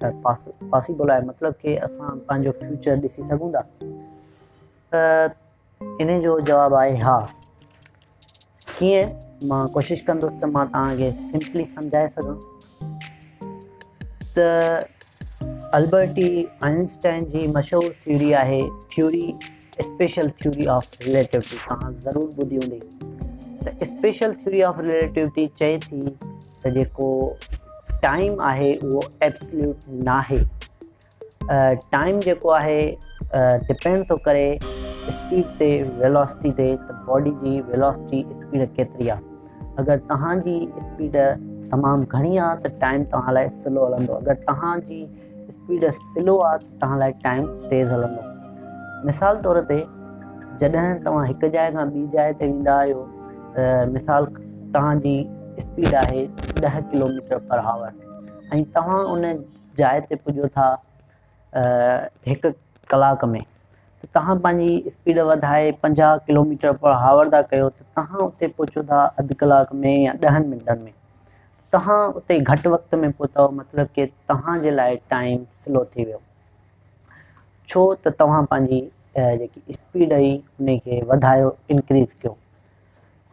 ته پاسيبل آهي مطلب ڪي اسان پنهنجو فيوچر ڏسي سگهون ٿا ته ان جو جواب آهي ها ڪيئن مان ڪوشش ڪندس ته مان توهان کي سمپلي سمجهائي سگهان ته البرٽي آئنسٽائن جي مشهور ٿيوري آهي theory special theory of relativity توهان ضرور ٻڌي هوندي ته اسپيشل ٿيوري آف رليٽوٽي چئي ٿي ته جيڪو ٽائيم آهي اهو ايبسليوٽ ناهي ٽائيم جيڪو آهي ڊپينڊ ٿو ڪري اسپيڊ تي ويلاسٽي تي ته باڊي جي ويلاسٽي اسپيڊ ڪيتري آهي اگر توهان جي اسپيڊ تمام گهڻي آهي ته ٽائيم توهان لاء سلو هلندو اگر توهان جي اسپيڊ سلو آ ته توهان لاء ٽائيم تيز هلندو. مثال طور تي جڏهن توهان هڪ جاء کان ٻي جاء تي ويندا آهيو ته مثال توهان جي اسپيڊ آهي ڏهه ڪلوميٽر پر آور ۽ توهان ان جاء تي پڄو ٿا هڪ ڪلاڪ ۾ ته توهان پنهنجي اسپيڊ وڌائي پنجاهه ڪلوميٽر پر آور ٿا ڪيو ته توهان اتي پهچو ٿا اڌ ڪلاڪ ۾ يا ڏهن منٽن ۾. توهان اتي گهٽ وقت ۾ پهتؤ مطلب ڪي توهان جي لاء ٽائيم سلو ٿي ويو ڇو ته توهان پنهنجي جيڪي اسپيڊ هئي ان کي وڌايو انڪريز ڪيو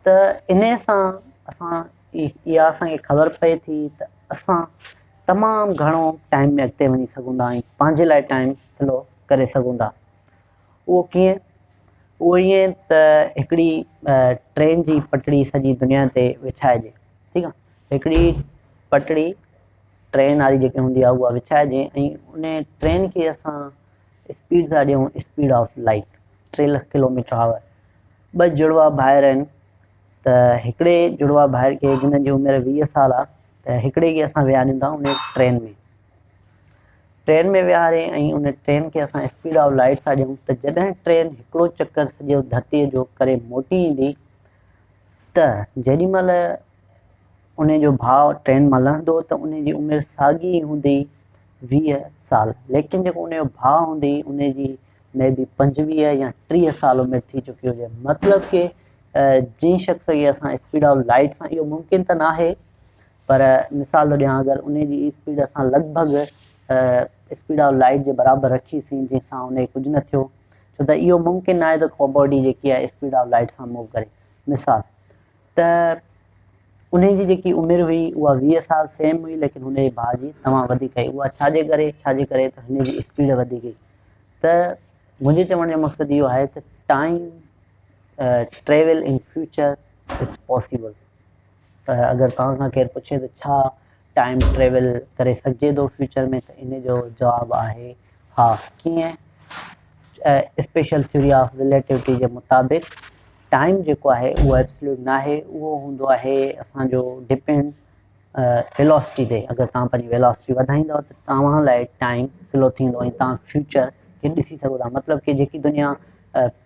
ته ان سان اسان اها اسان کي خبر پئي ٿي ته اسان تمام گهڻو ٽائيم ۾ اڳتي وڃي سگهون ٿا ۽ پنهنجي لاء ٽائيم سلو ڪري سگهون ٿا اهو ڪيئن؟ اهو ائين ته هڪڙي ٽرين جي پٽڙي سڄي دنيا تي وڇائجي، ٺيڪ آ، هڪڙي پٽڙي ٽرين واري جيڪي هوندي آ اها وڇائجي ۽ ان ٽرين کي اسان اسپيڊ ٿا ڏيون اسپيڊ آف لائيٽ ٽي لک ڪلو ميٽر آور ٻه جڙوا ڀائر آهن ته هڪڙي جڙوا ڀائر کي جن جي عمر ويهه سال آ ته هڪڙي کي اسان ويهاريون ٿا ان ٽرين ۾ ٽرين ۾ ويهاري ۽ ان ٽرين کي اسان اسپيڊ آف لائيٽ سان ڏيون ته جڏهن ٽرين هڪڙو چڪر سڄو ڌرتيء جو ڪري موٽي ايندي ته جيڏي مهل انهي جو ڀاء ٽرين مان لهندو ته انهي جي عمر ساڳي ئي هوندي ويهه سال ليڪن جيڪو انهي جو ڀاء هوندي انهي جي مي بي پنجويهه يا ٽيهه سال عمر ٿي چڪي هجي مطلب ڪي جنهن شخص کي اسان اسپيڊ آف لائيٽ سان اهو ممڪن ته ناهي پر مثال ٿو ڏيان اگر انهي جي اسپيڊ اسان لڳ ڀڳ اسپيڊ آف لائيٽ جي برابر رکي سين جنهن سان انهي کي ڪجهه نه ٿيو ڇو ته اهو ممڪن ناهي ته ڪو باڊي جيڪي آهي اسپيڊ آف لائيٽ سان موو ڪري مثال ته انهي جي جيڪي عمر هئي اها ويهه سال سيم هئي ليڪن هن جي ڀاء جي تمام وڌيڪ هئي اها ڇا جي ڪري ڇا جي ڪري ته هن جي اسپيڊ وڌيڪ هئي ته منهنجي چوڻ جو مقصد اهو آهي ته time travel in future is possible ته اگر توهان کان ڪير پڇي ته ڇا ٽائيم ٽريول ڪري سگهجي ٿو فيوچر ۾ ته ان جو جواب آهي ها. ڪيئن؟ اسپيشل ٿيوري آف رليٽيوٽي جي مطابق ٽائيم جيڪو آهي اهو ابسلوٽ ناهي اهو هوندو آهي اسان جو ڊپينڊ ويلاسٽي تي اگر توهان پنهنجي ويلاسٽي وڌائيندو ته توهان لاء ٽائيم سلو ٿيندو ۽ توهان فيوچر کي ڏسي سگهو ٿا مطلب ڪي جيڪي دنيا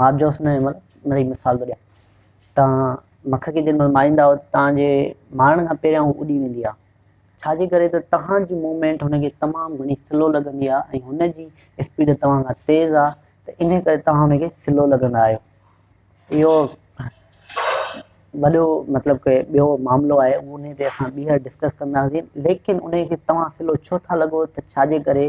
مار جوس نه هيمل ان جي مثال ٿو ڏيان توهان مک کي جنهن مهل ماريندا آهيو توهان جي مارڻ کان پهريان هو اڏي ويندي آهي ڇا جي ڪري ته توهان جي موومينٽ هن کي تمام گهڻي سلو لڳندي آهي ۽ هن جي اسپيڊ توهان کان تيز آهي ته ان ڪري توهان هن کي سلو لڳندا آهيو اهو وڏو مطلب ڪي ٻيو معاملو آهي ان تي اسان ٻيهر ڊسڪس ڪنداسين ليڪن ان کي توهان سلو ڇو ٿا لڳو ته ڇا جي ڪري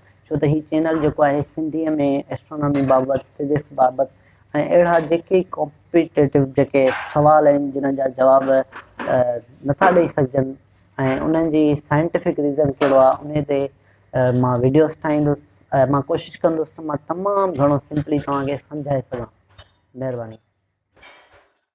ڇو ته هي چينل جيڪو آهي سنڌي ۾ اسٽرونامي بابت، فزڪس بابت ۽ اهڙا جيڪي ڪامپيٽيٽو جيڪي سوال آهن جنهن جا جواب نٿا ڏئي سگهجن ۽ انهن جي سائنٽيفڪ ريزن ڪهڙو آهي انهي تي مان ويڊيوز ٺاهيندس ۽ مان ڪوشش ڪندس ته مان تمام گهڻو سمپلي توهان کي سمجهائي سگهان مهرباني